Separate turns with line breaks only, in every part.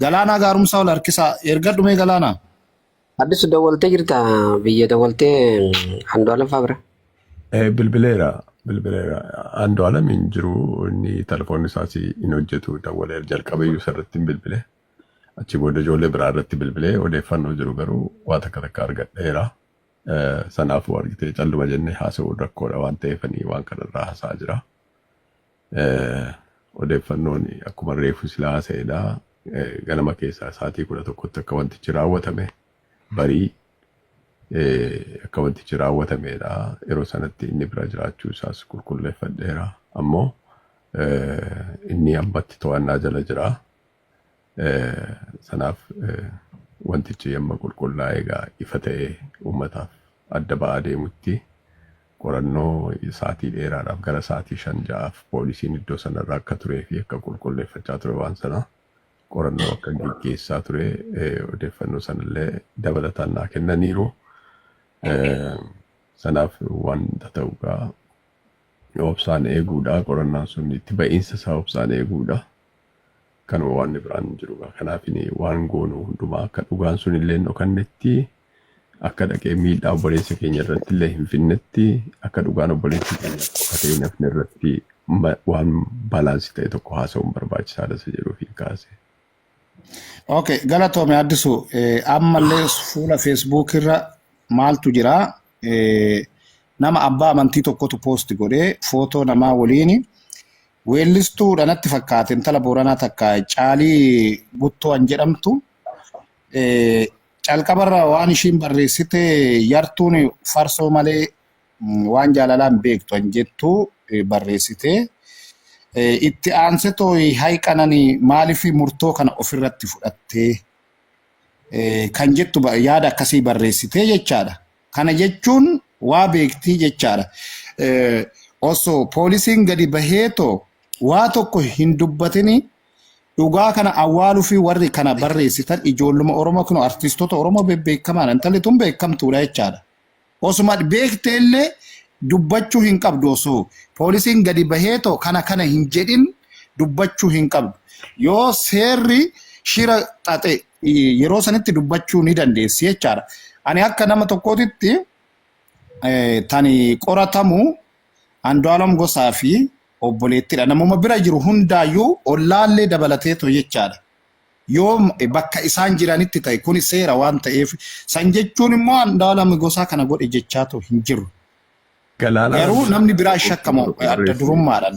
Galaanaa gaarumsaa ol harkisaa. Ergadhu mee galaanaa. Addisu
dawwaltee jirta biyya dawwaltee Andu'aalam fa'aa bira. Eh, Bilbileera
bilbileera Andu'aalam hin jiru inni telefoonni isaas hin hojjetu dawwalee jalqaba iyyuu isarratti hin bilbile achi booda ijoollee biraa irratti bilbilee odeeffannoo jiru garuu waa takka takka argadheera Eh, sanaafuu argitee calluma jennee haasa'uun rakkoodha waan ta'eefanii waan kanarraa haasa'aa jira Odeeffannoon akkuma reefu silaa haasa'edha. Ganama keessaa sa'aatii kudha tokkotti akka wantichi raawwatame barii akka wantichi raawwatameedha. Yeroo sanatti inni bira jiraachuu isaas qulqulleeffadheera. Ammoo inni ammatti to'annaa jala jira. Eh, Sanaaf eh, wantichi amma qulqullaa'ee egaa ifa ta'ee uummataaf adda ba'aa deemutti qorannoo sa'aatii dheeraadhaaf gara sa'aatii shan ja'aaf poolisiin iddoo sanarra akka turee fi akka qulqulleeffachaa ture waan sana qorannoo akka geggeessaa ture eh, odeeffannoo sanallee dabalataan naa kennaniiru. Eh, Sanaaf wanta ta'u egaa obsaan eeguudha qorannaan sun itti ba'iinsa isaa obsaan eeguudha. Kanuma waanni biraan hin jiru gaa. Kanaafin waan goonu hundumaa akka dhugaan sun illee hin dhokannetti akka dhaqee miidhaa obboleessa keenya irratti illee hin fidnetti akka dhugaan obboleessi keenya dhokatee hin hafne irratti ma- waan baalaansi ta'e tokko haasa'uun barbaachisaadha isa jedhuuf hin kaase.
Okay, galatoome addisu eh, ammallee fuula Facebook irra maaltu jira eh, nama abbaa amantii tokkotu post godhee footoo namaa waliin Weellistuu dha natti fakkaate intala Booranaa takka Caalii Guttoo an jedhamtu. Calqabarra waan ishiin barreessite yartuun farsoo malee waan jaalalaa hin beektu an jettu barreessite. Itti aanse tooyi hay qanani maaliif murtoo kana ofirratti fudhattee kan jettu yaada akkasii barreessite jechaadha. Kana jechuun waa beektii jechaadha. Osoo poolisiin gadi bahee too waa tokko hin dubbatini dhugaa kana awwaaluu fi warri kana barreessitan ijoolluma Oromoo kun artiistota Oromoo bebbeekamaadha. Intalli tun beekamtuudha jechaadha. Osuma beektee illee dubbachuu hin qabdu osoo poolisiin gadi bahee too kana kana hin jedhin dubbachuu hin qabdu. Yoo seerri shira xaxe eh, yeroo sanitti dubbachuu ni dandeessi jechaadha. Ani akka nama tokkootitti eh, tani qoratamu Andu'aalam Gosaa fi obboleettidha. Namuma bira jiru hundaayyuu ollaallee dabalateetu jechaadha. Yoo m- bakka isaan jiranitti ta'e kuni seera waan ta'eef san jechuun immoo Andu'aalam Gosaa kana godhe jechaatu hin jiru. Galaanaa Garuu namni biraa shakkamu adda durummaadhaan.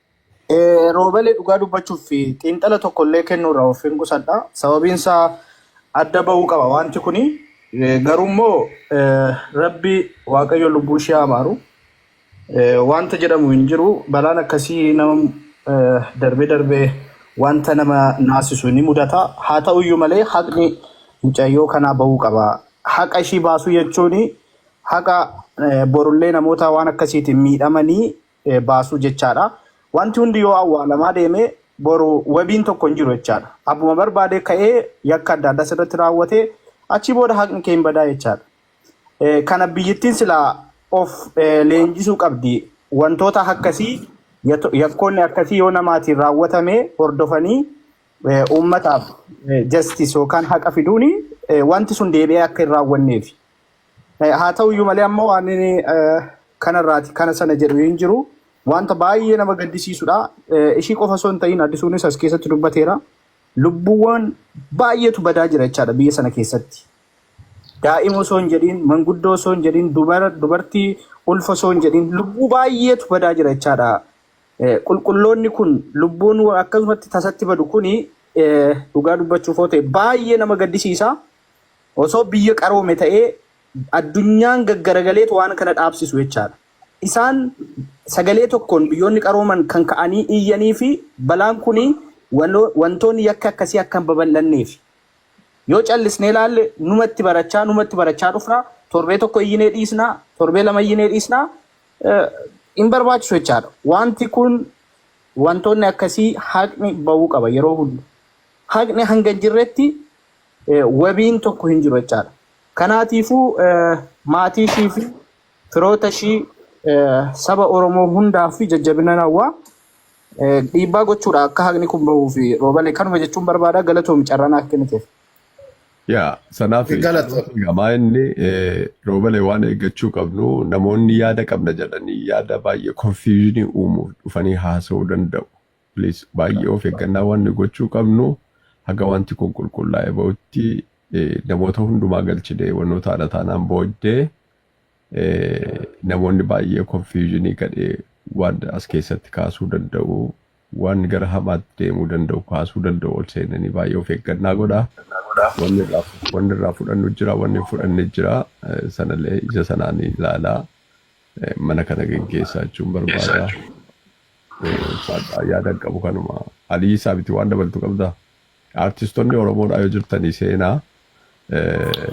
Eh,
Roobelee dhugaa dubbachuuf fi xiinxala tokko illee kennuu irraa of hin qusadha. Sababiin isaa adda ba'uu qaba wanti kuni. Eh, Garuu immoo eh, rabbi waaqayyo lubbuu ishee haa maaru. Eh, Wanta jedhamu hin jiru. Balaan akkasii nama eh, darbee darbee wanta nama naasisu ni mudata. Haa ta'u iyyuu malee haqni mucayyoo kanaa ba'uu qaba. Haqa ishii baasuu jechuun haqa eh, borullee namoota waan akkasiitiin miidhamanii eh, baasuu jechaadha. Wanti hundi yoo awwaalamaa deeme boru wabiin tokko hin jiru jechaadha. Abbuma barbaade ka'ee yakka adda addaa sirratti raawwate achii booda haqni kee hin badaa jechaadha. Eh, kana biyyittiin silaa of eh, leenjisuu qabdi. Wantoota akkasii yato- yakkoonni akkasii yoo namaatiin raawwatame hordofanii eh, uummataaf eh, justice yookaan haqa fiduuni eh, wanti sun deebi'ee akka hin raawwanneef Eh, Haa ta'u iyyuu malee ammoo waan inni eh, kanarraati kana sana jedhu hin jiru. Wanta baay'ee nama gaddisiisudha. Eh, Ishii qofa osoo hin ta'in addisuunis as keessatti dubbateera. Lubbuuwwan baay'eetu badaa jira jechaadha biyya sana keessatti. Daa'ima osoo hin jedhin, manguddoo osoo hin jedhin, dubara, dubartii ulfa osoo hin jedhin, lubbuu baay'eetu badaa jira jechaadha. Eh, Qulqulloonni kun lubbuun wa- akkasumatti tasatti badu kuni eh, dhugaa dubbachuuf yoo ta'e baay'ee nama gaddisiisa. Osoo biyya qaroome ta'ee addunyaan gaggaragaleetu waan kana dhaabsisu jechaadha. Isaan sagalee tokkoon biyyoonni qarooman kan ka'anii iyyaniifi balaan kuni wantoonni yakki akkasii akka hin babal'anneefi. Yoo callisnee laalle numatti barachaa numatti barachaa dhufna, torbee tokko iyyinee dhiisna, torbee lama iyyinee dhiisna, hin barbaachisu jechaadha. Wanti kun wantoonni akkasii haqni ba'uu qaba yeroo hunda. Haqni hanga hin jirretti eh, wabiin tokko hin jiru jechaadha. Kanaatiifuu eh, maatii ishii fi firoota ishii eh, saba Oromoo hundaaf fi jajjabina hawwaa eh, dhiibbaa gochuudha akka haqni kun bahuu fi roobale kanuma jechuun barbaada galatoomi carraa naaf kenniteef. Yaa
sanaaf Galata. gamaa inni eh, roobale waan eeggachuu qabnu namoonni yaada qabna jedhanii yaada baay'ee konfiyuuzinii uumuuf dhufanii haasa'uu danda'u. Please baay'ee of eeggannaa waan nu gochuu qabnu haga wanti kun qulqullaa'ee ba'utti eh, namoota hundumaa galchine wantoota haadha taanaan booddee eh, namoonni baay'ee konfiyuuzinii gadhee waan as keessatti kaasuu danda'u waan gara hamaatti deemuu danda'u kaasuu danda'u ol seenanii baay'ee of eeggannaa godha. Wanni irraa fu- wanni irraa fudhannu jira wanni hin fudhanne jira eh, sanallee ija sanaan ilaalaa eh, mana kana geggeessaa jechuun barbaada. Ulfaadhaa yaadan qabu kanuma. Aliyii Saabiti waan dabaltu qabda? Artistonni Oromoodhaa yoo jirtanii seenaa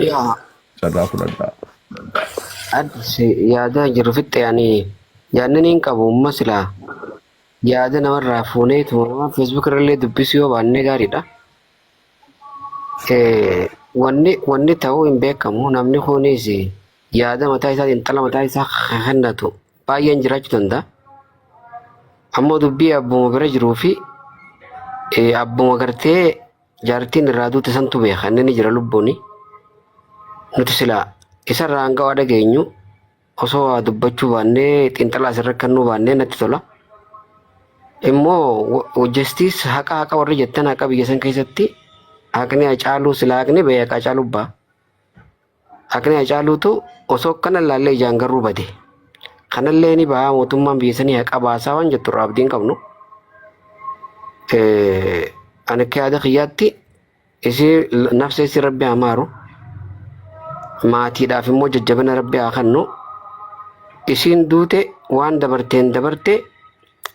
Yaa carraa fudhadhaa. adsi
yaadaa jiru fixxe ani yaadnan hin qabu umma silaa yaada namarraa fuunee tuma nama feesbuuk irrallee dubbisuu yoo baannee gaariidha. Eh, Wanni wanni ta'uu hin beekamu namni kunis yaada mataa isaatiin xala mataa isaa kennatu baay'een jiraachuu danda'a. Ammoo dubbii abbuma bira jiruu fi eh, abbuma gartee jaartiin irraa duute santu beeka inni ni jira lubbuuni. Nuti silaa isarraa hanga waa dhageenyu osoo waa dubbachuu baannee xiinxalaa asirra kennuu baannee natti tola. Immoo hojjestiis haqa haqa warri jettan haqa biyya san keessatti haqni hacaaluu silaa haqni bahee haqa hacaaluu ba'a. Haqni Hacaaluutu osoo akkana ilaallee ijaan garuu bade. Kanallee ni bahaa mootummaan biyya sanii haqa baasaa waan jettu irraa abdiin qabnu. Eh, Ani akka yaada kiyyaatti isii nafsa isii rabbi haa maaru. Maatiidhaaf immoo jajjabina rabbi haa kennu. Isiin duute waan dabarteen dabarte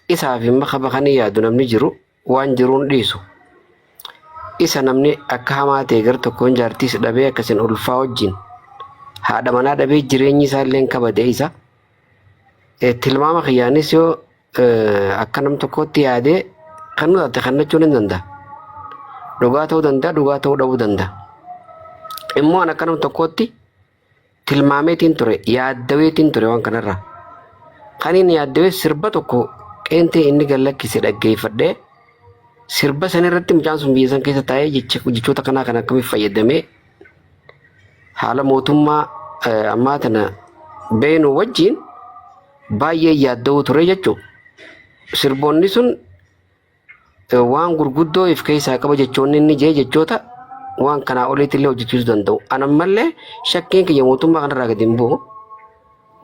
isaaf immoo kaba kan hin yaadu namni jiru waan jiruun dhiisu. Isa namni akka hamaa ta'e gar tokkoon jaartiis dhabee akkasin ulfaa wajjin haadha manaa dhabee jireenyi isaa illee kabade isa. Eh, Tilmaama kiyyaanis yoo eh, akka nam tokkootti yaadee kan nu taate kennachuun hin danda'a. Dhugaa ta'uu danda'a, dhugaa ta'uu dhabuu danda'a. Immoo an akka nam tokkootti tilmaameetiin ture yaaddaweetiin ture waan kanarra kan inni yaaddawee sirba tokko qeentee inni gallakkise dhaggeeffadhee sirba san irratti mucaan sun biyya san keessa taa'ee jechoota kanaa kan akkamitti fayyadamee haala mootummaa ammaa tana beenu wajjin baay'ee yaaddawuu ture jechuudha. Sirboonni sun waan gurguddoo if keessaa qaba jechoonni inni jee jechoota waan kanaa oliitti illee hojjechiisuu danda'u. Ana ammallee shakkiin kiyya mootummaa kanarraa gadi hin bu'u.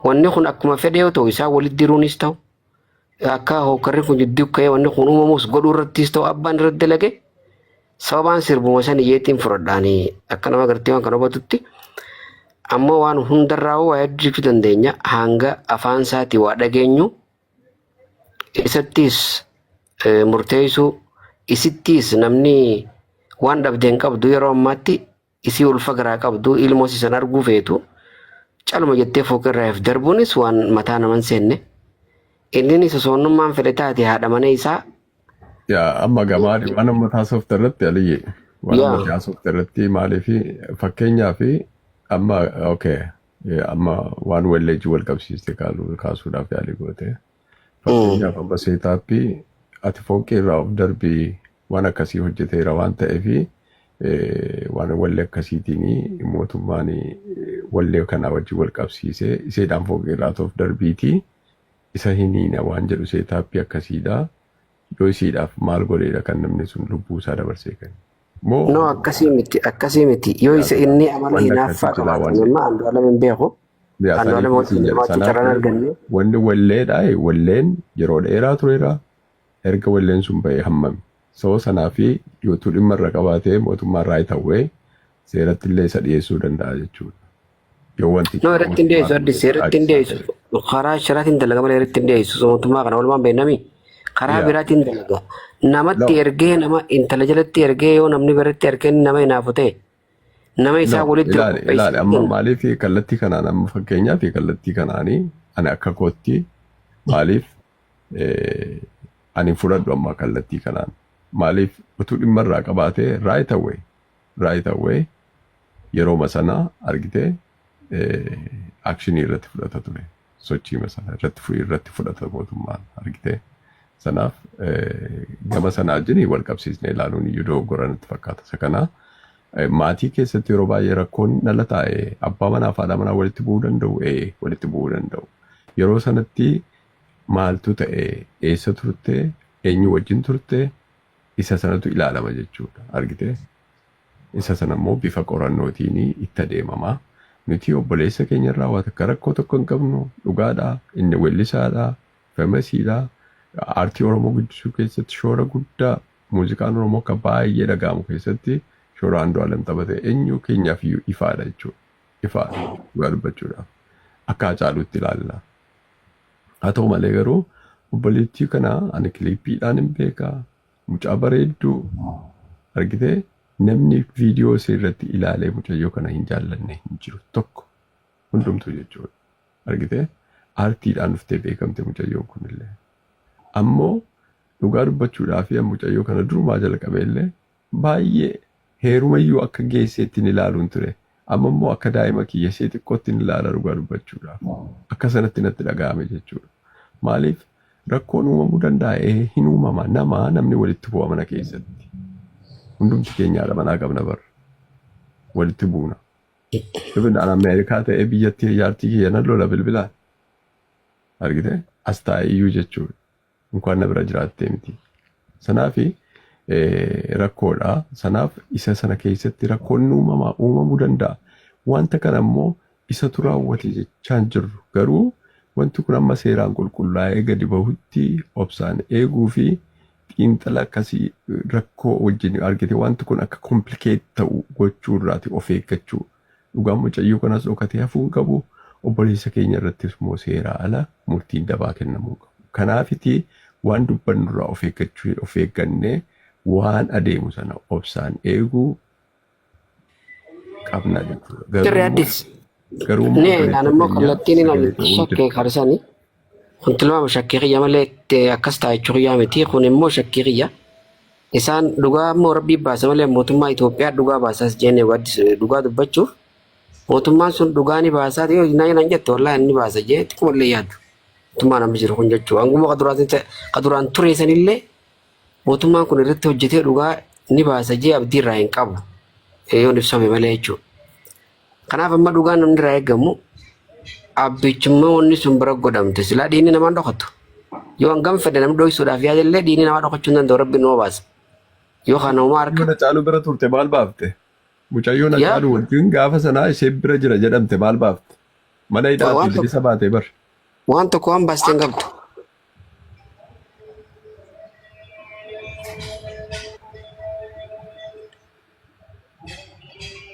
Wanni kun akkuma fedhe yoo ta'u isaan walitti diruunis ta'u akka hookarri kun jidduu ka'ee wanni kun uumamus godhuu irrattis ta'u abbaan irratti dalage sababaan sirbuma san iyyeettiin fudhadhaanii akka nama gartee waan kana hubatutti ammoo waan hundarraa waa hedduu jechuu dandeenya hanga afaan isaatii waa dhageenyu. isattiis eh, murteessuu isittiis namni waan dhabde hin qabdu yeroo ammaatti isii ulfa garaa qabdu ilmoo sisan arguu feetu caluma jettee fooqirraa if darbuunis waan mataa naman seenne inninis osoonnummaan fedhe taate haadha mana isaa Yaa
amma gamaadhi waan amma taasofte irratti aliyyi waan amma yaa taasofte irratti maaliif fakkeenyaa fi amma okay Eh, Amma waan walleejji wal qabsiiste kaaluu- kaasuudhaaf yaalii goote. Fakkeenyaaf amma seetaappii ati fooqii irraa of darbii waan akkasii hojjeteera waan ta'eef eh, waan wallee akkasiitiin mootummaan eh, wallee kanaa wajjin wal qabsiisee iseedhaan fooqii irraa of darbiitii isa hin hiina waan jedhu seetaappii akkasiidha. Yoo isiidhaaf maal godheedha kan namni sun lubbuu isaa dabarsee kenne? Moo No akkasii miti
akkasii miti yoo isa Yaadadha. inni amala Wanni hinaaffaa akkasii silaa qabaate waan amma Andu'aalam hin beeku yaa Andu'aalam saniif wajjin isin jedha. jiraachuu Sanaaf carraan arganne wanni walleedha
walleen yeroo dheeraa tureera. Erga walleen sun ba'ee hammami. Sababa sanaa fi yootuu dhimma irra qabaatee mootummaan raayit hawwee seerattillee isa dhiyeessuu danda'a jechuudha. Yoo wanti No irratti hin dhiyeessu addis
irratti hin dhiyeessu karaa shiraatiin dalaga malee irratti hin dhiyeessu mootummaa kana walumaan beeknami karaa Yeah. biraatiin dalaga namatti No. ergee nama intala jalatti ergee yoo namni biratti ergee inni nama hinaafu ta'e nama isaa No, walitti ilaali qopheessu ilaali amma kenna. maaliif
kallattii kanaan amma fakkeenyaaf kallattii kanaanii ani akka kootti maaliif eh, ani hin fudhadhu amma kallattii kanaan maaliif utuu dhimma irraa qabaatee right away right away yerooma sana argite akshinii irratti fudhata ture sochiima sana irratti fu- irratti fudhata mootummaan argite sanaaf eh, gama sana wajjin wal qabsiisne ilaaluun iyyuu dogoggora natti fakkaata isa kana eh, maatii keessatti yeroo baay'ee rakkoon dhala taa'e abbaa manaa fi haadha manaa walitti bu'uu danda'u ee walitti bu'uu danda'u yeroo sanatti maaltu ta'e eessa turte eenyu wajjin turte isa sanatu ilaalama jechuudha. Argite? Isa sana immoo bifa qorannootiin itti adeemama. Nuti obboleessa keenya irraa waa takka rakkoo tokko hin qabnu dhugaadha. Inni weellisaadha, famasiidha. Aartii Oromoo guddisuu keessatti shoora guddaa muuziqaan Oromoo akka baay'ee dhaga'amu keessatti shoora Andu'aalem taphate eenyu keenyaaf iyyuu ifaadha jechuudha. Ifaadha dhugaa dubbachuudhaaf. Akka Hacaaluutti ilaalla. Haa ta'u malee garuu obboleettii kana ani kiliippiidhaan hin beeka. Mucaa bareedduu argitee namni viidiyoo isii irratti ilaalee mucayyoo kana hin jaallanne hin jiru tokko hundumtuu jechuudha. Argitee aartiidhaan dhuftee beekamte mucayyoon kunillee. Ammoo dhugaa dubbachuudhaa fi mucayyoo kana durumaa jalqabee illee Baay'ee. Heerumayyuu akka geesseettin ilaaluun ture. Ammammoo akka daa'ima kiyya ishee xiqqoottin ilaala dhugaa dubbachuudhaaf. Akka sanatti natti dhaga'ame jechuudha. Maaliif rakkoon uumamuu danda'a? Ee hin uumama. Nama namni walitti bu'a mana keessatti. Hundumti keenya haadha manaa qabna bar. Walitti buuna. Even an Ameerikaa ta'ee biyyatti jaartii kiyya nan lola bilbilaan. Argitee? As taa'eeyyuu jechuudha. Inkwaan na bira jiraattee miti. Sanaaf rakkoodha. Sanaaf isa sana keessatti rakkoon ni uumama, uumamuu danda'a. Wanta kana immoo isatu raawwate jechaan jirru. Garuu wanti kun amma seeraan qulqullaa'ee gadi bahutti obsaan eeguu fi xiinxala akkasii rakkoo wajjin argite wanti kun akka komplikeet ta'u gochuu irraati of eeggachuu. Dhugaan mucayyoo kanas dhokatee hafuu hin qabu. Obboleessa keenya irrattis immoo seeraa ala murtiin dabaa kennamuu hin qabu. Kanaafiti waan dubbannu irraa of eeggachuu of eeggannee waan adeemu sana obsaan eeguu qabna jechuudha. Garuu Dirree immoo Addis. garuu
immoo Ni obboleessa ilaalammoo keenya kallattiin sagalee ilaalu ta'uun shakkee dirqama. karsanii. Kun tilmaama shakkii kiyya malee eh, akkas ta'a jechuu kiyyaa miti. Kun immoo shakkii kiyya. Isaan dhugaa immoo rabbii baasa malee mootummaa Itoophiyaa dhugaa baasaas jenne waddis dhugaa dubbachuuf mootummaan sun dhugaa ni baasaa yoo naa nan jette wallaahi ni baasa jee xiqquma illee yaadu. Mootummaan amma jiru kun jechuudha. Hanguma qaduraatiin ta'e- qaduraan ture sanillee mootummaan kun irratti hojjetee dhugaa ni baasa jee abdii irraa hin qabu. Eh, Yoon ibsame malee jechuudha. Kanaaf amma dhugaan namni irraa eegamu abbichummaa wanni sun bira godhamte silaa dhiinni namaan dhokatu. Yoo hangam fedhe namni dhoysuudhaaf yaada illee dhiinni namaa dhokachuu hin danda'u rabbi nama baasa. Yoo kana homaa harka Mucayyoo Hacaaluu bira turte maal
baafte? Mucayyoo yaa Hacaaluu wajjin gaafa sanaa ishee bira jira jedhamte maal baafte? Mana wa- hidhaati waan tokko bilisa baatee bar. waan tokko waan
baaste hin qabdu.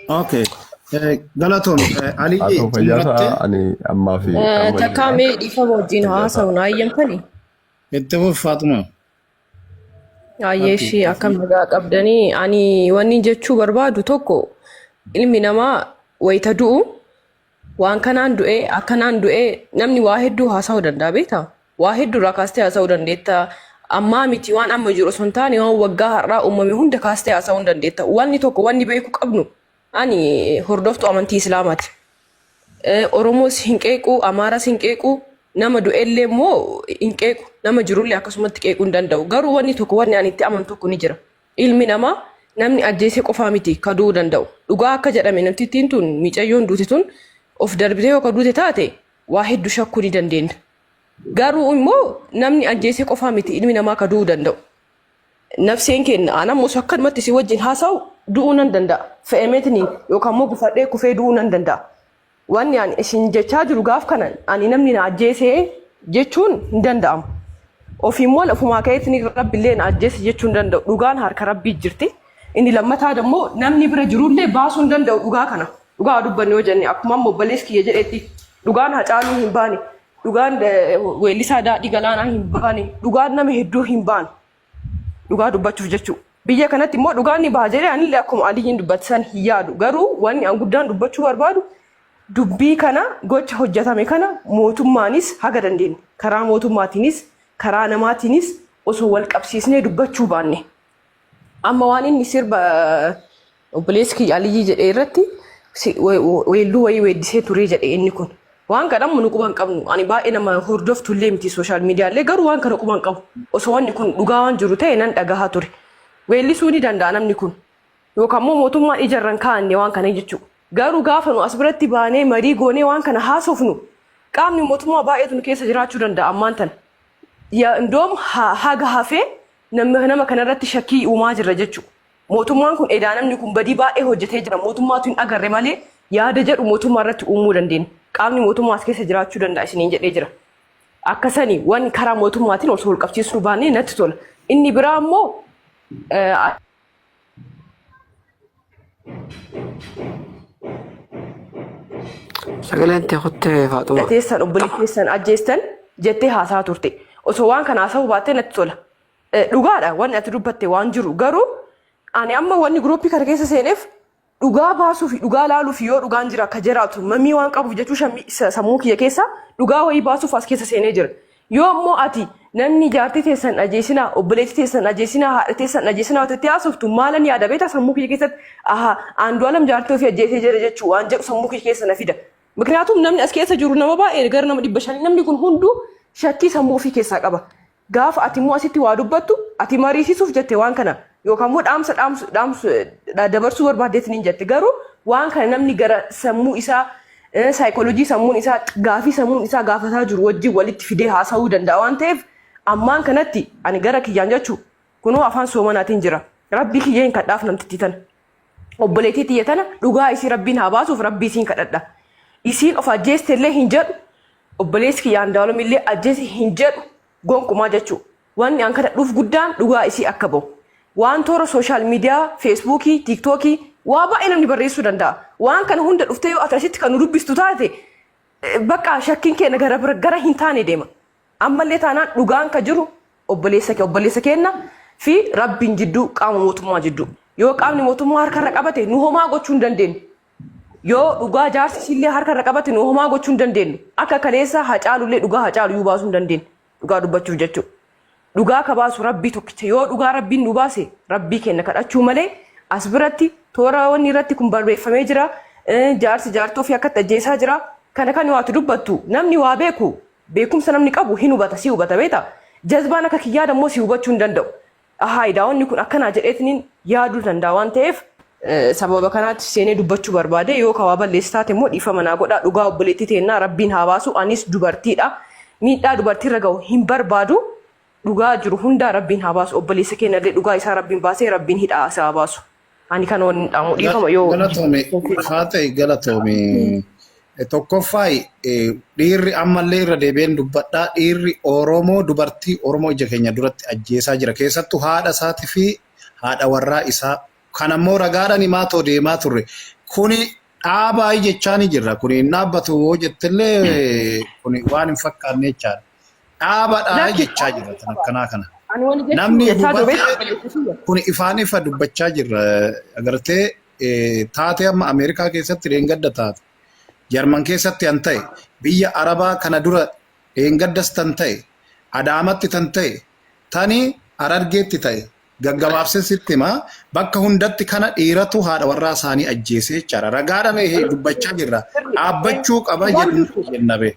Okay. Eh, Galatoom, eh, haa Alii ta'u xumurattee fayyaasaa ani ammaa fi Eh,
amma Takkaa jira mee dhiifama wajjin fayyaasaa haasa'u na hayyamtani? itti fufi
Faaxumaa. Hayyee
Harki ishii akkam nagaa qabdanii ani wanni jechuu barbaadu tokko ilmi namaa wayita du'u waan kanaan du'ee akkanaan du'ee namni waa hedduu haasa'uu danda'a beekta waa hedduu irraa kaastee haasa'uu dandeetta ammaa miti waan amma jiru osoo hin taane waan waggaa har'aa uumame hunda kaastee haasa'uu hin dandeetta wanni tokko wanni beeku qabnu ani hordoftuu amantii islaamaati Eh, oromoos hin qeequ amaaras hin qeequ nama du'ellee immoo hin qeequ nama jirullee akkasumatti qeequu hin danda'u garuu wanni tokko wanni ani itti amanu tokko ni jira Ilmi namaa namni ajjeesee qofaa miti ka du'uu danda'u. Dhugaa akka jedhame namtittiin tun miicayyoon duute tun of darbitee yoo ka duute taate waa heddu shakkuu ni dandeenna. Garuu immoo namni ajjeesee qofaa miti ilmi namaa ka du'uu danda'u. Nafseen keenna an ammus akkanumatti si wajjin haasa'u du'uu nan danda'a. Fe'ameetiniin yookaan immoo gufadhee kufee du'uu nan danda'a. Wanni ani isin jechaa jiru gaaf kana ani namni na ajjeese jechuun hin danda'amu. Ofiin moon ofumaa ka'eetiin rabbillee na ajjeese jechuu hin danda'u. Dhugaan harka rabbii jirti. Inni lammataa immoo namni bira jirullee baasuu hin danda'u dhugaa kana. Dhugaa dubbanne yoo jenne akkuma amma obboleessi kiyya jedhetti dhugaan hacaaluu hin baane. Dhugaan eh, weellisaa daadhii galaanaa hin baane. Dhugaan nama hedduu hin baane. Dhugaa dubbachuuf jechuu. Biyya kanatti immoo dhugaan ni baha jedhee anillee akkuma Aliyyiin dubbate san hin yaadu. Garuu wanni an guddaan dubbachuu barbaadu dubbii kana gocha hojjatame kana mootummaanis haga dandeenye karaa mootummaatiinis karaa namaatiinis osoo wal qabsiisnee dubbachuu baanne. Amma waan inni sirba Obboleessi kiyya Aliyyii jedhee irratti si- we- we- weelluu wayii weeddisee turee jedhe inni kun. Waan kana ammoo nu quba hin qabnu. Ani baay'ee nama hordoftu illee miti sooshaal miidiyaa illee garuu waan kana quba hin qabu. Osoo wanni kun dhugaa waan jiru ta'e nan dhagahaa ture. Weellisuu ni danda'a namni kun. Yookaan immoo mootummaan ija irra hin kaa'anne waan kana jechuudha. Garuu gaafa nu as biratti baanee marii goonee waan kana haasofnu qaamni mootummaa baay'eetu nu keessa jiraachuu danda'a ammaan tana. Ya- Indoom ha- haga hafee nama nama kanarratti shakkii uumaa jirra jechuudha. Mootummaan kun edaa namni kun badii baay'ee hojjetee jira mootummaatu hin agarre malee yaada jedhu mootummaa irratti uumuu dandeenya. Qaamni mootummaa as keessa jiraachuu danda'a isiniin jedhee jira. Akka sani waan karaa mootummaatiin osoo wal qabsiisuu baannee natti tola. Inni biraa ammoo eh,
Sagaleen tee kuttee faaxuma. teessan obboleettii teessan
ajjeestan jettee haasaa turte. Osoo waan kana haasa'uu baattee natti tola. Eh, Dhugaadha wanni ati dubbatte waan jiru garuu ani amma wanni guruuppii kana keessa seeneef dhugaa baasuu fi dhugaa laaluu fi yoo dhugaan jira akka jiraatu mamii waan qabuuf jechuu shammii sa- sammuu kiyya keessa dhugaa wayii baasuuf as keessa seenee jira. Yoo immoo ati namni jaartii teessan ajeesinaa obboleettii teessan ajeesinaa haadha teessan ajeesinaa wata itti haasoftu maalan yaada beektaa sammuu kiyya keessatti aha aandu'aalam jaartii ofii ajjeesee jira jechuu waan jedhu sammuu kiyya keessa na fida. Mikniyaatum namni as keessa jiru nama baay'ee gara nama dhibba shanii namni kun hunduu shakkii sammuu ofii keessaa qaba. Gaafa ati immoo asitti waa dubbattu ati mariisisuuf jette waan kana yookaan immoo dhaamsa dhaamsu dhaamsu dha- dabarsuu barbaaddeetiin hin jette garuu waan kana namni gara sammuu isaa eh, saayikoolojii sammuun isaa gaafii sammuun isaa gaafataa jiru wajjin walitti fidee haasa'uu danda'a waan ta'eef ammaan kanatti ani gara kiyyaan jechuu kunoo afaan soomanaatiin jira rabbii kiyya hin kadhaaf namtittii tana obboleettii tiyya tana dhugaa isii rabbiin haa baasuuf rabbii isiin kadhadha isiin of ajjeeste illee hin jedhu Obboleessi kiyya Andaaloom illee ajjeesi hin jedhu gonkumaa jechuu. Wanni an kadhadhuuf guddaan dhugaa isii akka bahu. Waan toora sooshaal miidiyaa, feesbuukii, tiiktookii, waa baay'ee namni barreessuu danda'a. Waan kana hunda dhuftee yoo ati asitti kan nu dubbistu taate baqqaa shakkiin keenya gara bira gara hin taane deema. Ammallee taanaan dhugaan ka jiru obboleessa kee obboleessa keenna fi rabbiin jidduu qaama mootummaa jidduu. Yoo qaamni mootummaa harkarra qabate nu homaa gochuu hin dandeenyu. Yoo dhugaa jaarsi isiillee harka irra qabate nu homaa gochuu hin dandeenyu. Akka kaleessa hacaalullee dhugaa hacaalu iyyuu baasuu hin dandeenyu. Dhugaa dubbachuuf jechuudha. Dhugaa ka baasu rabbii tokkicha. Yoo dhugaa rabbiin nu baase rabbii keenna kadhachuu malee as biratti toora wanni irratti kun barreeffamee jira. Eh, Jaarsi jaartii ofii akkatti ajjeesaa jira. Kana kan waati dubbattu namni waa beeku beekumsa namni qabu hin hubata si hubata beeta. Jazbaan akka kiyyaada immoo si hubachuu hin danda'u. Ahaa edaa wanni kun akkanaa jedheetiniin yaaduu danda'a waan ta'eef sababa kanaatti seenee dubbachuu barbaade yoo kawaa balleessi taate immoo dhiifama naa godhaa dhugaa obboleettii teennaa rabbiin haa baasu anis dubartiidha miidhaa dubartiirra gahu hin barbaadu dhugaa jiru hundaa rabbiin haa baasu obboleessa keenyallee dhugaa isaa rabbiin baasee rabbiin hidhaa isaa haa baasu. Ani kan waliin dhaamu dhiifama yoo Galatoome haa ta'e galatoome.
Eh, Tokkoffaa eh, dhiirri ammallee irra deebi'een dubbadhaa dhiirri Oromoo dubartii Oromoo ija keenya duratti ajjeesaa jira keessattuu haadha isaatii fi haadha warraa isaa kan ammoo ragaadhaan himaa too deemaa turre kuni dhaabaa jechaa ni jirra kuni hin dhaabbatu yoo jettellee kuni waan hin fakkaanne jechaadha. dhaabadha Lakki jechaa dhaabuu jirra tan qaba. akkanaa kana. Ani wani jechuun Namni isaa duubatti dubeessa obboleessa kiyya. kun ifaan ifa dubbachaa jirra agartee eh, taatee amma Ameerikaa keessatti dheengadda taate Jarman keessatti tan ta'e biyya Arabaa kana dura dheengaddas tan ta'e Adaamatti tan ta'e tani Harargeetti ta'e gaggabaabsee sitti hima bakka hundatti kana dhiiratu haadha warraa isaanii ajjeesee jechaadha ragaadha mee dubbachaa jirra dhaabbachuu qaba Dhugaan jedhu jirtu. jenna bee.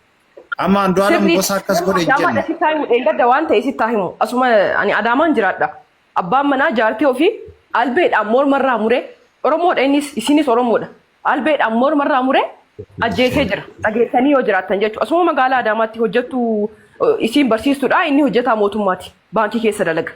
Amma Andu'aalam Sirrii gosa akkas godhe hin Adaamaadha jennu. sitti himu dheengadda
waan ta'e sitti himu asuma ani Adaamaan jiraadha. Abbaan manaa jaartii ofii albeedhaan mormarraa muree Oromoodha innis isinis Oromoodha. Albeedhaan mormarraa muree ajjeesee jira. Dhageessanii yoo jiraattan jechuudha. Asuma magaalaa Adaamaatti hojjettu eh, isiin barsiistuudha inni hojjetaa mootummaati. Baankii keessa dalaga.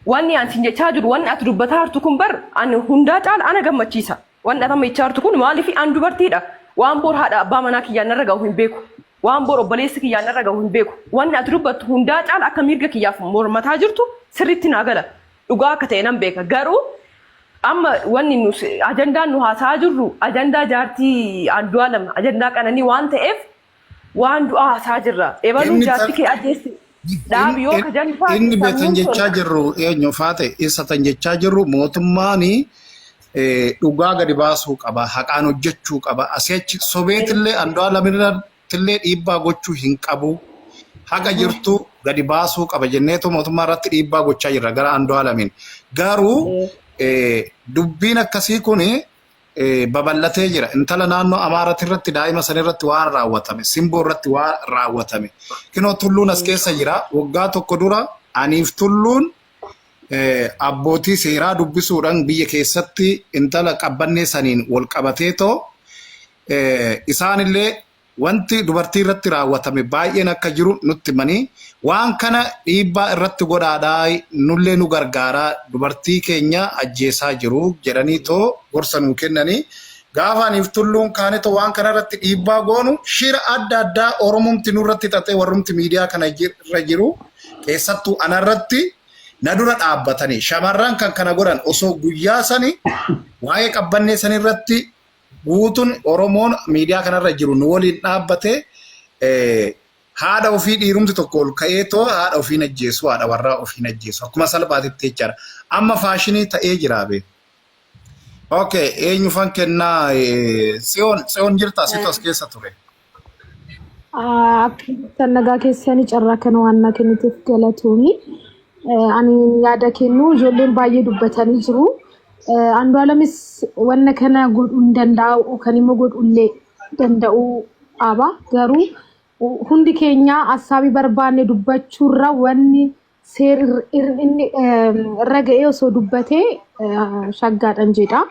Wanni ani sin jechaa jiru wanni ati dubbataa jirtu kun bar ani hundaa caala ana gammachiisa. Wanti atama ichaartu kun maaliif an dubartiidha? Waan boor haadha abbaa manaa kiyyaan narra ga'u hin beeku. Waan boor obboleessi kiyyaan narra ga'u hin beeku. Wanni ati dubbattu hundaa caala akka miirga kiyyaaf mormataa jirtu sirriitti naa gala. Dhugaa akka ta'e nan beeka. Garuu amma wanni nus ajandaan nu haasa'aa jirru ajandaa jaartii Andu'aalam ajandaa qananii waan ta'eef Waan du'aa hasaa jirra. Ebaluun Inni jaarti kee ajjeessi. Dhaabi yoo ka janni taate inni betan sammuun jechaa tolta.
jirru eenyu faate isa tan jechaa jirru mootummaan dhugaa gadi baasuu qaba haqaan hojjechuu qaba asii achi sobeetillee andu'aa lamirrattillee dhiibbaa gochuu hin qabu haga jirtu gadi baasuu qaba jenneetu mootummaa irratti dhiibbaa gochaa jirra gara andu'aa lamiin garuu eh, dubbiin akkasii kun babal'atee jira. Intala naannoo Amaarati irratti daa'ima san irratti waan raawwatame, simboo irratti waan raawwatame. Kinoo tulluun as keessa jira. Waggaa tokko dura aniif tulluun abbootii seeraa dubbisuudhaan biyya keessatti intala qabbannee saniin wal qabatee too isaanillee Wanti dubartii irratti raawwatame baay'een akka jiru nutti himanii, waan kana dhiibbaa irratti godhaadhaa nullee nu gargaaraa dubartii keenya ajjeesaa jiru jedhaniitoo gorsa nuu kennanii, gaafa anii fi Tulluun kaanetoo waan kana irratti dhiibbaa goonu shira adda addaa Oromumti nurratti xaxee warrumti miidiyaa kana irra jiru keessattuu ana irratti na dura dhaabbatanii shamarran kan kana godhan osoo guyyaa sani waa'ee qabbannee sani irratti Guutun Oromoon miidiyaa kanarra jiru nu waliin dhaabbate haadha ofii dhiirumti tokko ol ka'ee too haadha ofiin ajjeesu haadha warraa ofiin ajjeesu akkuma salphaatitti jechaadha. Amma faashinii ta'ee jiraa bee. Okay, eenyufan kennaa Tsiyoon Tsiyoon jirtaa situ as keessa ture. Akkamitti
nagaa keessanii carraa kana waan naa kenniteef galatoomi. Ani yaada kennu ijoolleen baay'ee dubbatanii jiru. Andu'aalamis wanna kana godhuu hin danda'u yookaan immoo godhuu illee danda'uu qaba. Garuu hundi keenya hassaabii barbaanne dubbachuurra wanni seer irr- irr- inni ehm, irra ga'ee osoo dubbatee eh, shaggaadhan jedha.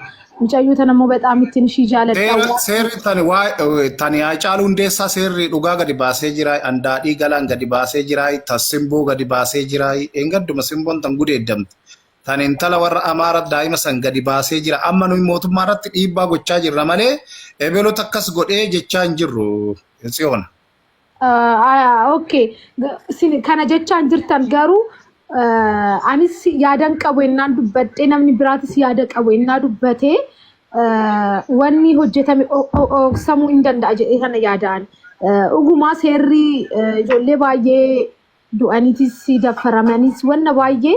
Mucayyoo tana immoo bexaam ittiin ishii jaaladha. Seerri Waan seerri tani waa
tani Haacaaluu Hundeessaa seerri dhugaa gadi baasee jira. Andaadhii galaan gadi baasee jira. Tan simboo gadi baasee jira. Engadduma simboon tan gudeeddamte. Tan intala warra Amaara daa'ima san gadi baasee jira. Amma nuyi mootummaa irratti dhiibbaa gochaa jirra malee ebeloota akkas godhee jechaa hin jirru. Tsiyoona.
Okay. Kana jechaan jirtan garuu anis yaadan qabu ennaan dubbadhee namni biraatis yaada qabu ennaa dubbatee wanni hojjetame ooksamuu hin danda'a jedhee kana yaadaan. Dhugumaa seerri ijoollee baay'ee du'aniitis daffaramanis wanna baay'ee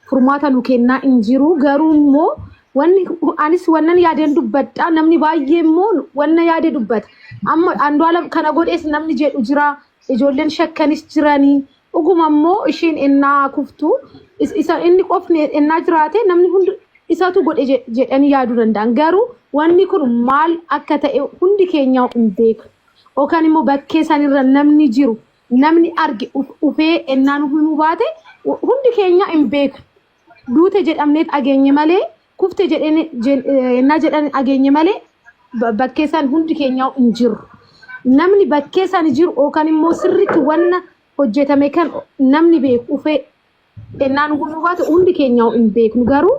furmaata nu kennaa hin jiru. Garuu immoo wanni anis wannan yaadeen dubbadha. Namni baay'ee immoo wanna yaade dubbata. Amma Andu'aalam kana godhees namni jedhu jira. Ijoolleen shakkanis jiranii. Dhuguma immoo isheen ennaa kuftu is- isa inni qofni ennaa jiraate namni hundi isatu godhe je- jedhanii yaaduu danda'an. Garuu wanni kun maal akka ta'e hundi keenya hin beeknu. Yookaan immoo bakkee sanirra namni jiru namni arge dhuf- dhufee ennaa nu himuu baate hu- hundi keenya hin beeku. Duute jedhamnee dhageenye malee kufte jedheen- jen- eh, ennaa jedhan dhageenye malee ba- bakkee isaan hundi keenya hin jiru. Namni bakkee isaan jiru yookaan immoo sirriitti wanna hojjetame kan namni beeku dhufee Ennaan gufuu baate hundi keenya hin beeknu garuu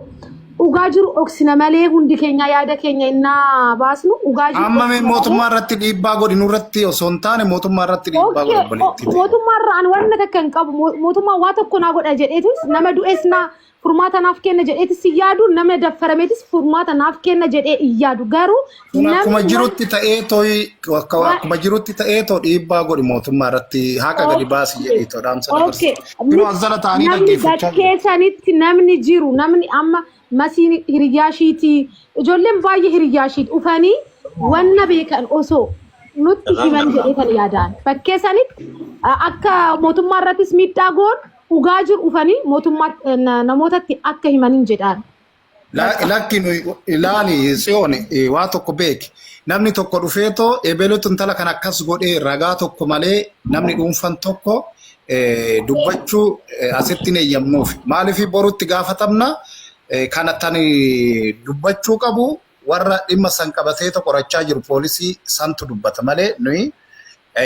dhugaa jiru dhoksina malee hundi keenya yaada keenya innaa baasnu dhugaa jiru Amma mee dhoksina malee. mootummaa irratti
dhiibbaa godhi nurratti osoo hin taane mootummaa irratti dhiibbaa godhi Okkee, obboleettii o- ta'e. mootummaa irraa ani waan
takka hin qabu Mo- mootummaa waa tokko naa godha jedheetis nama du'es naa furmaata naaf kenna jedheetis hin yaadu nama daffarameetis furmaata naaf kenna jedhee hin yaadu garuu Kun akkuma Namni jirutti
ta'ee tooyi akka- Waa- akkuma jirutti ta'ee too dhiibbaa godhi mootummaa irratti haqa gadi baasi jedhii too dhaamsa dabarsi. Okay. Kunoo as jala ta'anii Namni dhaggeeffachaa jiru. bakkee sanitti namni
jiru namni amma masiin hiriyyaa ishiitii ijoolleen baay'ee hiriyyaa ishiiti dhufanii wanna beekan osoo nutti himan jedhee kan yaadaan bakkee sanitti a- akka mootummaa irrattis miidhaa goon dhugaa jiru dhufanii mootummaa na- namootatti akka himan hin jedhaan. Lakka. Lakki
nuyi ilaali tsiyoon eh, waa tokko beeki. Namni tokko dhufee too ebelutu intala kan akkas godhee ragaa tokko malee namni dhuunfan tokko eh, dubbachuu eh, asitti hin eeyyamnuuf. Maaliif borutti gaafatamna eh, kana tani dubbachuu qabu warra dhimma san qabateeto qorachaa jiru poolisii santu dubbata malee nuyi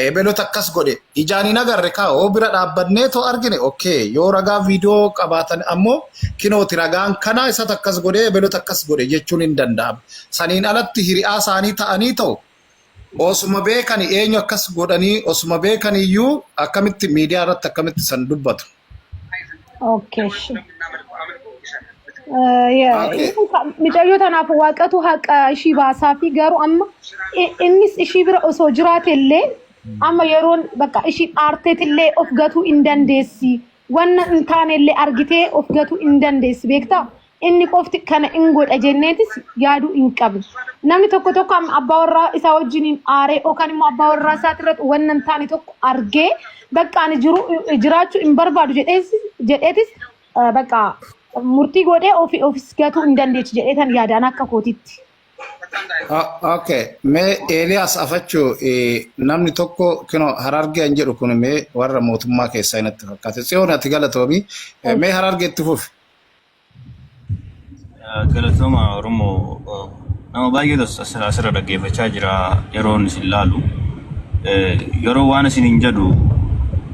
ebeloota akkas godhe ijaan hin agarre kaa oo bira dhaabbanneeto argine okkee yoo ragaa viidiyoo qabaatan ammoo kinooti ragaan kanaa isatu akkas godhe ebeloota akkas godhe jechuun hin danda'ama saniin alatti hiriyaa isaanii ta'anii ta'u Osuma beekani eenyu akkas godhanii osuma beekani iyyuu akkamitti miidiyaa irratti akkamitti san dubbatu.
Okay, shi. Eh, yeah, Okay. inni ka- Micayyoo tanaaf waaqatu haqa ishii baasaa fi garuu amma i- innis ishii bira osoo jiraate illee amma yeroon bakka ishii aarteet illee of gatuu hin dandeessi. Wanna hin taanellee argitee of gatuu hin dandeessi beektaa? Inni qofti kana hin godha jenneetis yaaduu hin qabnu. Namni tokko tokko amma abbaa warraa isaa wajjiniin aaree yookaan immoo abbaa warraa isaati irratti wanna hin taane tokko argee bakka ani jiru jiraachuu hin barbaadu jedhees jedheetis eh, bakka murtii godhee ofi ofis gatuu hin dandeechi jedheetan yaadaan akka kootitti.
Okay, mee Eeliyaas afachuu eh, namni tokko kino harargeen jedhu kun mee warra mootummaa keessaa inatti fakkaate. Tsiyoon ati galatoomi. Eh, Mee harargee itti fufi.
Galatoomaa Oromoo uh, nama baay'eetu as- as- asirra dhaggeeffachaa jira yeroon isin laalu. Eh, Yeroo waan isin hin jedhu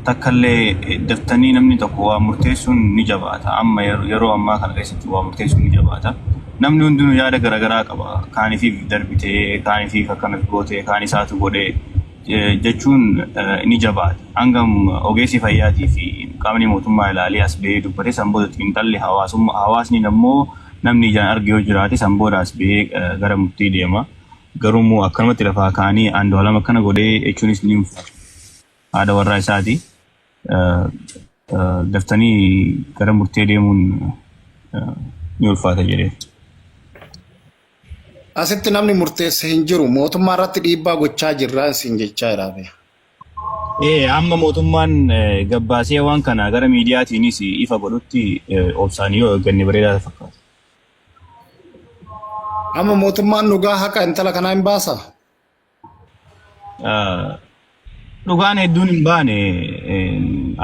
takkallee eh, daftanii namni tokko waa murteessuun ni jabaata. Amma yer- yeroo ammaa kana keessatti waa murteessuun ni jabaata. namni hundinuu yaada garaagaraa qaba. Kaanifiif darbitee, kaanifiif akkanas gootee, kaan isaatu godhee jechuun ni jabaata. Hangam ogeessi fayyaatii fi qaamni mootummaa ilaalee as ba'ee dubbate san booda xiinxalli hawaasummaa hawaasni ammoo namni ijaan arge yoo jiraate san booda as ba'ee gara murtii deema. Garuu immoo akkanumatti lafaa kaanii Andu'aalam akkana godhee jechuunis ni ulfaata. Haadha warraa isaati. daftanii gara murtee deemuun ni ulfaata jedhee.
Asitti namni murteesse hin jiru. Mootummaa irratti dhiibbaa gochaa jirra isin jechaa jiraame. Ee
amma mootummaan gabbaasee waan kana gara miidiyaatiinis ifa godhutti obsaan yoo eegganne bareedaa fakkaata.
Amma mootummaan dhugaa haqa intala kanaa hin baasaa?
Dhugaan hedduun hin baane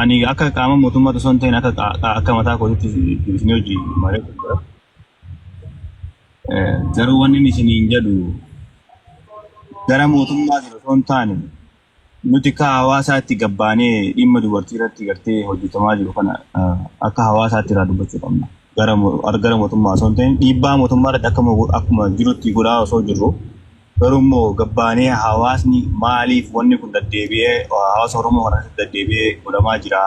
ani akka qaama mootummaa osoo hin ta'in akka qaa- akka mataa kootitti isin hojii malee garuu wanni inni isiniin jedhu gara mootummaa sana osoo hin taane nuti akka hawaasaatti gabbaanee dhimma dubartii irratti gartee hojjetamaa jiru kana ah, akka hawaasaatti irraa dubbachuu qabna. Gara mo- ar- gara mootummaa osoo hin ta'in dhiibbaa mootummaa irratti akkuma go- akkuma jirutti godhaa osoo jirru Garuu immoo gabbaanee hawaasni maaliif wanni kun daddeebi'ee hawaasa Oromoo kana keessatti daddeebi'ee godhamaa jira?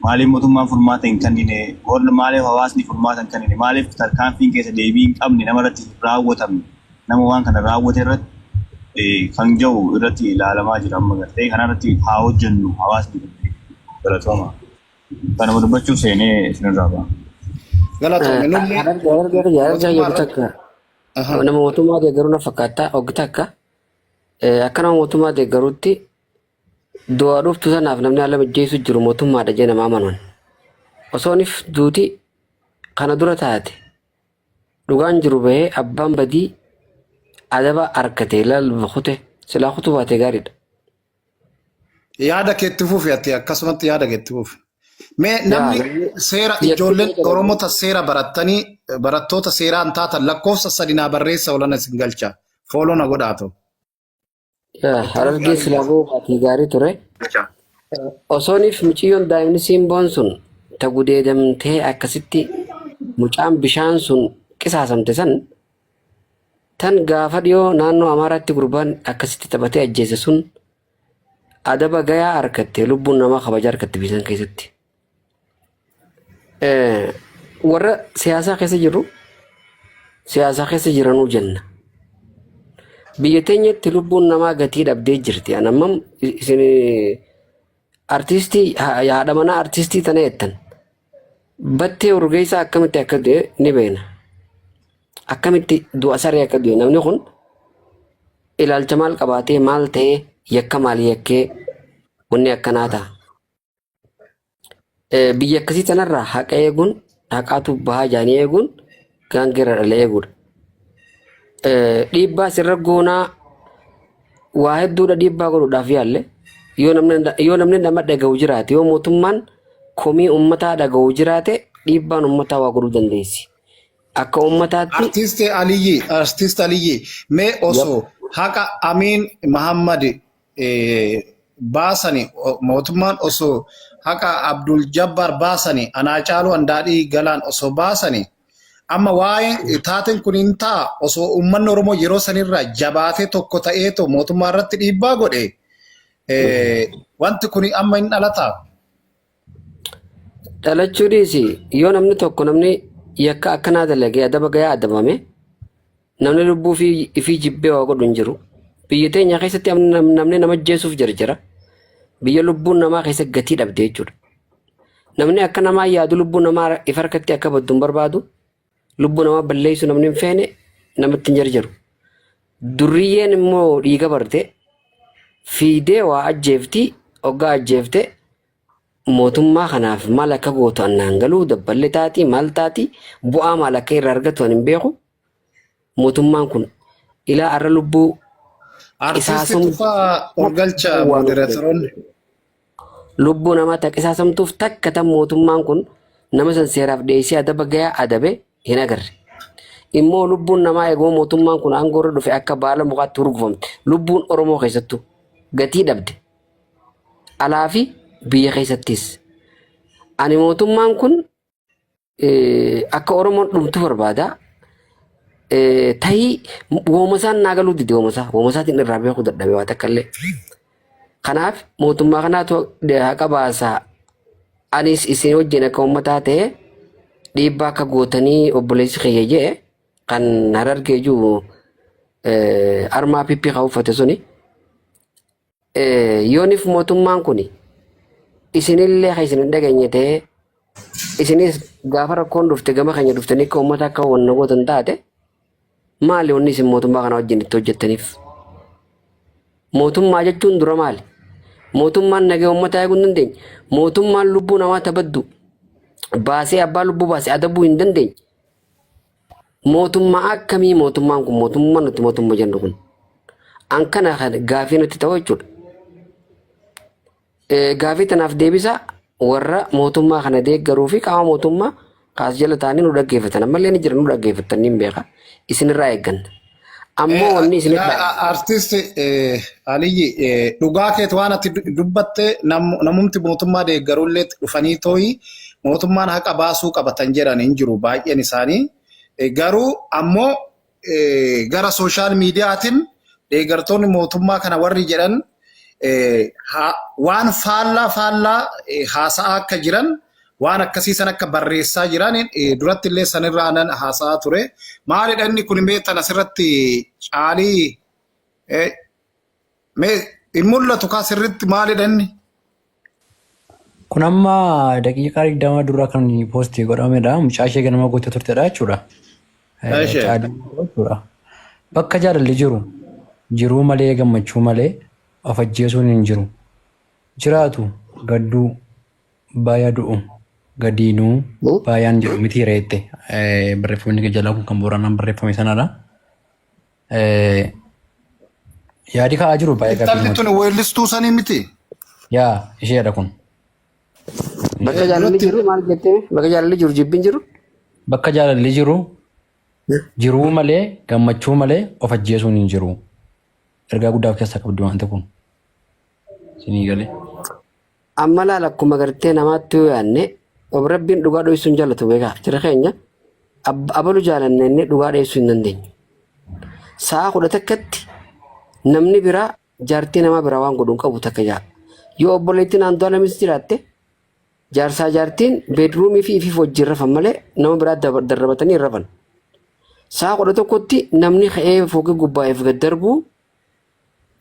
Maaliif mootummaan furmaata hin kennine? Warri maaliif hawaasni furmaata hin kennine? Maaliif tarkaanfiin keessa deebii hin qabne nama irratti hin raawwatamne? Nama waan kana raawwate irratti kan ga'u irratti ilaalamaa jira amma gartee kana irratti haa hojjennu hawaasni galatooma. Kanuma dubbachuuf seenee isinirraa ba'a. Galatoomi nullee Harargee harargee
harargee mootummaa jedhu irratti takka. Aha.
Nama mootummaa deeggaruu na fakkaata oggi takka eh, akka nama mootummaa deeggaruutti du'a dhuftu sanaaf namni haala mijjeessu jiru mootummaadha jee nama amanuun. Osoonif duuti kana dura taate dhugaan jiru bahee abbaan badii adaba arkate laal kute silaa kutu baate gaariidha.
Yaada keetti fufi ati akkasumatti yaada keetti fufi. Mee Yaa, namni namni- seera Yes, ijoolleen yes. Oromoota seera barattanii barattoota seeraan taatan lakkoofsa sadi naa barreessa olana isin galcha. Fooloo na godhaa ta'u. Yaa, Harargee
silaa boobaati gaarii ture. Osooniif mucayyoon daa'imni simboon sun ta gudeedamtee akkasitti mucaan bishaan sun qisaasamte san Tan gaafa dhiyoo naannoo Amaaraatti gurbaan akkasitti taphatee ajjeese sun adaba gayaa argatte lubbuun namaa kabaja argatte biisan keessatti. Eh, Warra siyaasaa keessa jirru siyaasaa keessa jiranuu jenna. Biyya teenyatti lubbuun namaa gatii dhabdee jirti. An ammam isin artistii haadha manaa artistii tana jettan. Battee Urgeessaa akkamitti akka du'e ni beekna. Akkamitti du'a saree akka du'e namni kun ilaalcha maal qabaatee maal ta'ee yakka maal yakkee wanni akkanaa ta'a. Eh, Biyya akkasii tanarraa haqa eeguun haqaatu bahaa jaanii eeguun gaangee irraa dhalee eeguudha. Eh, Dhiibbaa sirra goonaa waa hedduudha dhiibbaa godhuudhaaf yaalle yoo namni yoo namni nama dhaga'u jiraate yoo mootummaan komii uummataa dhaga'u jiraate dhiibbaan uummataa waa godhuu dandeessi. Akka uummataatti Artisti Aliyyi,
Artisti Aliyyi, mee yep. osoo haqa Amiin Mahammad baasani mootummaan osoo haqa Abdul Jabbaar baasani anaa caaluu andaadhii galaan osoo baasani amma waa'ee taateen kun hin ta'a osoo uummanni Oromoo yeroo sanirraa jabaatee tokko ta'ee too mootummaa irratti dhiibbaa godhe wanti kun amma hin dhalataa.
Dhalachuu dhiisi yoo namni tokko namni yakka akkanaa dalagee adaba gayaa adabame namni lubbuu fi ifii jibbee waa godhu hin jiru. Biyya teenya keessatti am- nam- namni nama jeesuuf jarjara. Biyya lubbuun namaa keessa gatii dhabde jechuudha. Namni akka namaa yaadu lubbuu namaa if harkatti akka baddu hin barbaadu. Lubbuu namaa balleessu namni hin feene namatti hin jarjaru. Durriyyeen immoo dhiiga barte fiidee waa ajjeefti oggaa ajjeefte mootummaa kanaaf maal akka gootu annaan galuu dabballee taati maal taati bu'aa maal akka irraa argatu ani hin beeku. mootummaan kun ilaa arra lubbuu Artisti
Isaasum- Tufaa Urgalcha Waan Moderatoroonni.
lubbuu namaa takka isaasamtuuf takka tan mootummaan kun nama san seeraaf dhiyeessee adaba gayaa adabe hin agarre. Immoo lubbuun namaa eeguma mootummaan kun aangoo irra dhufe akka baala mukaatti hurgufamte. Lubbuun Oromoo keessattuu gatii dhabde. Alaa fi biyya keessattis. Ani mootummaan kun Eh, akka oromoon dhumtu barbaada Eh, tahii woomasaan naa galuu dide woomasaa woomasaatiin irraa beekuu dadhabe waa takka illee kanaaf mootummaa kanaatu haqa baasaa anis isin wajjin akka uummataa ta'e dhiibbaa akka gootanii obboleessi kiyya jee kan harargee jiru eh, armaa pippii kan uffate suni Yoonif mootummaan kun isinillee kan isin hin dhageenye ta'ee isinis gaafa rakkoon dhufte gama keenya dhuftanii akka uummata akka wanna gootan taate maali wanni isin mootummaa kana wajjin itti hojjettaniif? Mootummaa jechuun dura maali? Mootummaan nagee uummataa eeguu hin dandeenye. Mootummaan lubbuu namaa tabaddu baasee abbaa lubbuu baase adabuu hin dandeenye. Mootummaa akkamii mootummaan kun mootummaa nuti mootummaa jennu kun an kana kan gaafii nutti ta'u jechuudha. Eh, Gaafii tanaaf deebisaa warra mootummaa kana deeggaruu fi qaama mootummaa kaas jala ta'anii nu dhaggeeffatan ammallee ni jira nu dhaggeeffatan ni beeka isinirraa eegganna. Ammoo wanni isin dhaamu. Artist
Aliyyi dhugaa keeti waan ati dubbatte namumti mootummaa deeggarullee dhufanii tooyi mootummaan haqa baasuu qabatan jedhan hin jiru baay'een isaanii. Garuu ammoo gara sooshaal miidiyaatiin deeggartoonni mootummaa kana warri jedhan waan faallaa faallaa haasa'aa akka jiran waan akkasii san akka barreessaa jiran duratti illee sanirraa nan haasa'aa ture. Maalidha inni kun beektan asirratti caalii mee hin mul'atu kaa sirritti maalidha inni?
Kun amma daqiiqaa digdama dura kan poostii godhamedha. Mucaa ishee ganama gootee turtedha jechuudha. Bakka jaalalli jiru jiruu malee gammachuu malee of ajjeesuun hin jiru. Jiraatu gadduu Baaya du'u gadiinuu baayaan jedhu miti reette barreeffamni kee jalaa kun kan booranaan barreeffame sanadha. Yaadi ka'aa jiru baay'ee gaaffii Intalli namatti. tun weellistuu sanii
miti. Yaa
isheedha kun.
Bakka jaalalli jiru maal jettee? Bakka jaalalli jiru jibbiin jiru? Bakka jaalalli
jiru jiruu malee gammachuu malee of ajjeesuun hin jiru. Ergaa guddaa of keessaa qabdi wanti kun. Sinii galee. Amma
laal akkuma gartee namaatti yoo yaadne ob rabbiin dhugaa dhoysuu hin jaalatu beekaa jira keenya ab- abalu jaalanne inni dhugaa dheessuu hin dandeenyu. Sa'a kudha takkatti namni biraa jaartii namaa biraa waan godhu hin qabu takka jaa. Yoo obboleettiin Andu'aalamis jiraatte jaarsaa jaartiin beedruumii fi ifiif wajjin rafan malee nama biraa daba- darrabatanii hin rafan. Sa'a kudha tokkotti namni ka'ee foogii gubbaa'eef gad darbuu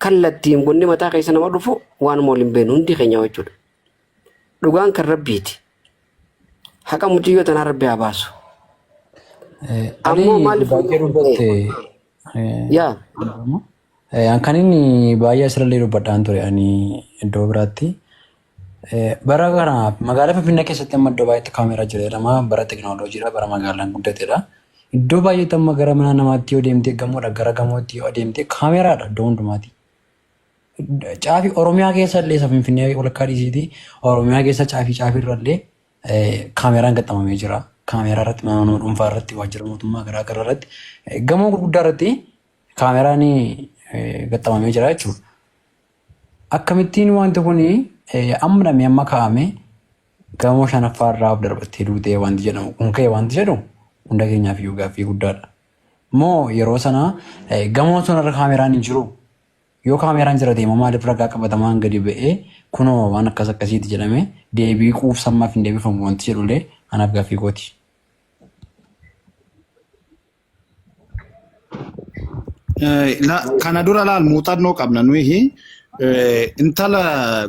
kallattiin wanni mataa keessa nama dhufu waan mool hin beenu hundi keenya jechuudha. Dhugaan kan rabbiiti. Haqa mucayyoo tanaa rabbi haa baasu. Ammoo maaliif baay'ee dubbatte. Yaa.
An kan inni baay'ee asirrallee dubbadhaan ture ani iddoo biraatti. Bara kana magaalaa Finfinnee keessatti amma iddoo baay'eetti kaameeraa jira jedhama. Bara tekinooloojiidha, bara magaalaan guddatedha. Iddoo baay'eetti amma gara mana namaatti yoo deemtee gamoodha gara gamootti yoo adeemtee kaameeraadha iddoo hundumaati. Caafi Oromiyaa keessa illee isa Finfinnee walakkaa dhiisiiti. Oromiyaa keessa caafii caafii irra illee kaameeraan gaxxamamee jira. Kaameeraa irratti mana nama dhuunfaa irratti waajjira mootummaa garaa garaa irratti gamoo gurguddaa irratti kaameeraan gaxxamamee jira jechuudha. Akkamittiin wanti kun amma dhamee amma kaa'ame gamoo shanaffaa irraa of darbattee duutee wanti jedhamu kun ka'e wanti jedhu hunda keenyaaf iyyuu gaaffii guddaadha. Moo yeroo sana gamoo sun irra kaameraan hin jiru yoo kaameraan jira deema maaliif ragaa qabatamaan gadi ba'ee kunoo waan akkas akkasiiti jedhame deebii quubsa ammaaf hin deebifamu wanti jedhullee anaaf gaaffii kooti.
Eh, la- kana dura laal muuxannoo qabna nuyi eh, intala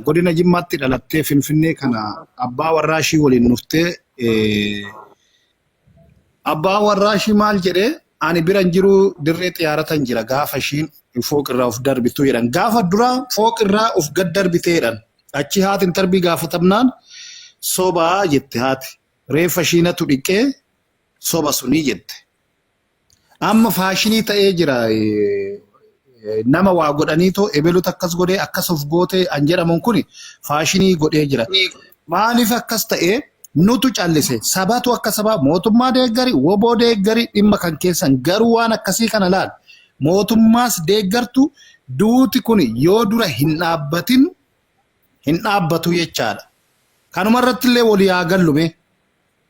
godina jimmaatti dhalattee finfinnee kana abbaa warraa ishii waliin dhuftee eh, abbaa warraa ishii maal jedhee ani biran jiru dirree xiyaaratan jira gaafa ishiin fooqirraa of darbitu jedhan gaafa dura fooqirraa of gad darbiteedhan achi haati intarbii gaafatamnaan sobaa jette haati reeffa ishiinatu dhiqee soba sunii jette. Amma faashinii ta'ee jira. Nama waa godhanii too ebelutu akkas godhee akkas of gootee an jedhamuun kun faashinii godhee jira. Maaliif akkas ta'ee nutu callise sabatu akka sabaa mootummaa deeggari woboo deeggari dhimma kan keessan garuu waan akkasii kana laal mootummaas deeggartu duuti kun yoo dura hin dhaabbatin hin dhaabbatu jechaadha. Kanuma irratti illee walii haa gallume.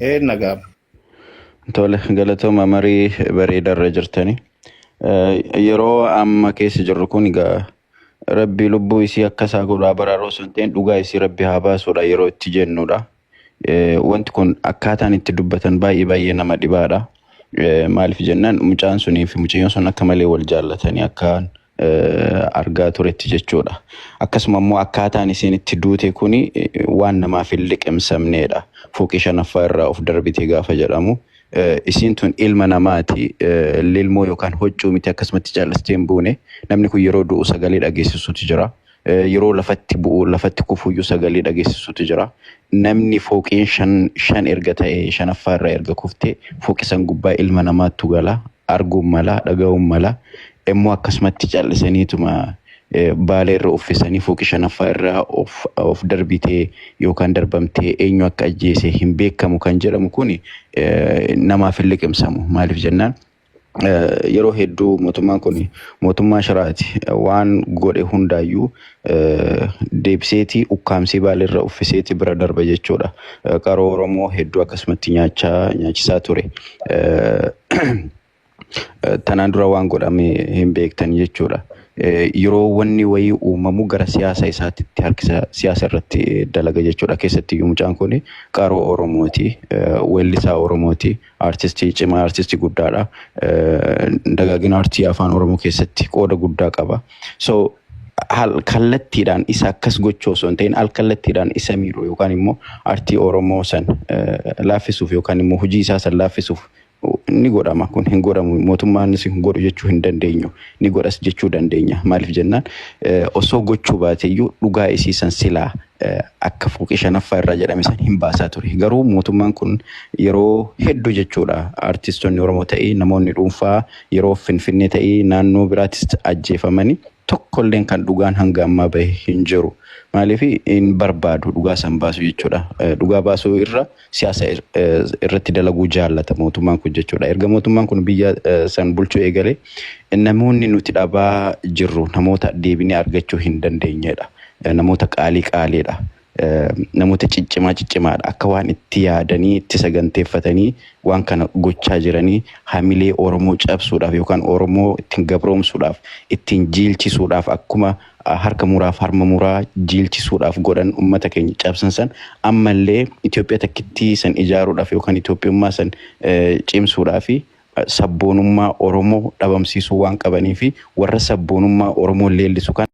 Ee
nagaa.
Tole galatooma marii bareeda irra jirtani. Yeroo amma keessa jirru kun egaa rabbi lubbuu isii akka isaa godhu haa baraaru osoo hin ta'in dhugaa isii rabbi haa baasudha yeroo itti jennudha. Eh, Wanti kun akkaataan itti dubbatan baay'ee baay'ee nama dhibaadha. Eh, Maaliif jennaan mucaan sunii fi mucayyoon sun akka malee wal jaallatanii akkaan argaa turetti jechuudha. Akkasuma immoo akkaataan isiin itti duute kun waan namaaf hin liqimsamneedha. Fooqii shanaffaa irraa of darbite gaafa jedhamu isiin tun ilma namaati lilmoo yookaan hoccuu miti akkasumatti cal'istee hin buune. Namni kun yeroo du'u sagalee dhageessisuutu jira. Eh, Yeroo lafatti bu'u, lafatti kufuyyuu sagalee dhageessisutu jira. Namni fooqiin shan, shan erga ta'e, shanaffaa irraa erga kufte, fooqi san gubbaa ilma namaattu gala, arguun mala, dhaga'uun mala. Immoo akkasumatti callisaniituma eh, baala irra uffisanii fooqi shanaffaa irraa of, of darbitee yookaan darbamtee eenyu akka ajjeese hin beekamu kan jedhamu kun eh, namaaf hin liqimsamu. Maaliif jennaan? yeroo hedduu mootummaan kun mootummaa shiraati waan godhe hundaayyuu deebiseeti ukkaamsee baalirra uffiseeti bira darba jechuudha. Qaroo Oromoo hedduu akkasumatti nyaachaa nyaachisaa ture. Tanaan dura waan godhame hin beektan jechuudha. Yeroo wanni wayii uumamu gara siyaasa isaatti itti harkisa siyaasa irratti dalaga jechuudha. Keessatti mucaan kun qaroo Oromooti, weellisaa Oromooti. Artistii cimaa, artistii guddaadha. Dagaagina artii afaan Oromoo keessatti qooda guddaa qaba. So kallattiidhaan isa akkas gochuu osoo hin ta'in al kallattiidhaan isa miidhu yookaan immoo artii Oromoo san laaffisuuf yookaan immoo hojii isaa san laaffisuuf ni godhama kun hin godhamu mootummaanis hin godhu jechuu hin dandeenyu ni godhas jechuu dandeenya maaliif jennaan osoo gochuu baateyyuu dhugaa isii san silaa akka fooqii shanaffaa irraa jedhame san hin baasaa ture. Garuu mootummaan kun yeroo hedduu jechuudha artistoonni Oromoo ta'ee namoonni dhuunfaa yeroo Finfinnee ta'ee naannoo biraattis ajjeefamanii tokkolleen kan dhugaan hanga ammaa bahe hin jiru. Maaliif hin barbaadu dhugaa san baasuu jechuudha. Dhugaa baasuu irra siyaasa irratti dalaguu jaallata mootummaan kun jechuudha. Erga mootummaan kun biyya san bulchuu eegale namoonni nuti dhabaa jirru namoota deebinee argachuu hin dandeenyedha. Namoota qaalii qaaliidha. Namoota ciccimaa ciccimaadha. Akka waan itti yaadanii itti saganteeffatanii waan kana gochaa jiranii hamilee Oromoo cabsuudhaaf yookaan Oromoo ittiin gabroomsuudhaaf ittiin jiilchisuudhaaf akkuma harka muraa fi harma muraa jiilchisuudhaaf godhan ummata keenya cabsan san ammallee Itoophiyaa takkittii san ijaaruudhaaf yookaan Itoophiyummaa san cimsuudhaa fi sabboonummaa Oromoo dhabamsiisuu waan qabanii fi warra sabboonummaa Oromoo leellisu kana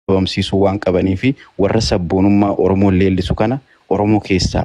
dhabamsiisuu waan qabanii fi warra sabboonummaa Oromoo leellisu kana Oromoo keessaa